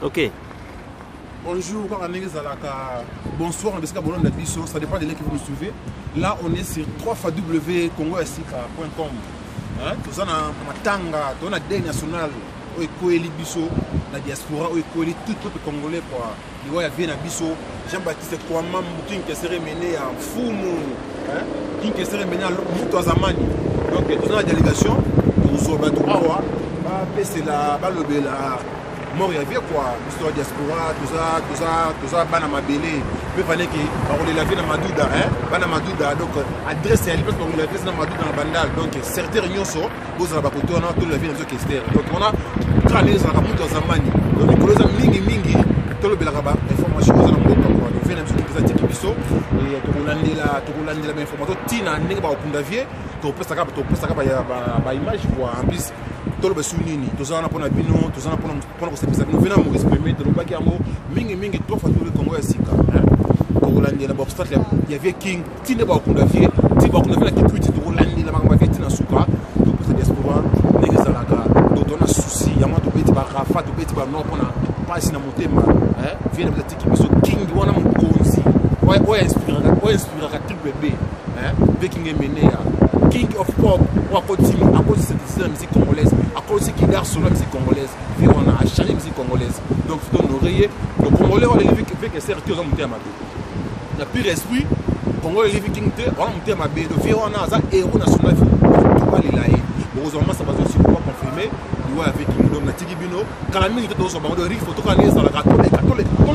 ok bonjour kaka ndenge ezalaka bonsoir na bisika bolanda biso ça dépend de leki vous suivez là on est sur 3 fois w congo ya sika point com toza na matanga toza na deuil national oyo ekweli biso na diaspora oyo ekweli tout peuple congolais quoi liwa ya vie na biso jean baptiste kwama king kesere mene ya mfumu king kesere mene ya moto ya zamani donc toza na délégation tozwa bato awa bapesela balobela mort ya vie kua biso ya diaspora toza bana mabele mpe vaneke bakolela vie na maduda bana maduda donc adresse ya lipesi bakolela vie na maduda na bandal donc certere nyonso bozala bakote wana tolola vie na biso kester donc wana kala ndenge ezalaka moto ya zambani donc mikolo eza mingi mingi tolobelaka bainformation oza na mboka wana vie na biso eza tiki biso eh, tokolandela tokolandela bainformation ntina ndenge bakokunda vie topesaka topesaka baimage kua en plus toloba esu nini toza wana mpo na bino toza wana mpo na mpona kosepisa bino vena maurice premier tolobaki yango mingi mingi trois fois tobe congo ya sika tokolandela baobstacle ya vie king ti nde bakunda vie ti bakunda vie na kitwiti tokolandela makambo ya vie ti na suka topesa diaspora ndenge ezalaka donc tona souci yango tobeti barafa tobeti banor mpona mpasi na motema vie biso king wana mokonzi oyo inspiraka triple b mpe king emeneya king of pop oyo akotima akosi synthesise na musique congolaise akosi kidar solo ya musique congolaise mpe wana achange musique congolaise donc fito honore ye le congolais oyo aleli veke ser te oza moto ya mabe na pire esprit congolais eleli king te wana moto ya mabe do vie wana aza héros national tobalela ye bokozwa masa bazosiko baconfirme liwa ya viking donc natiki bino kala mingi te tozwa bango do rifo tokala nde ezalaka toleka toleka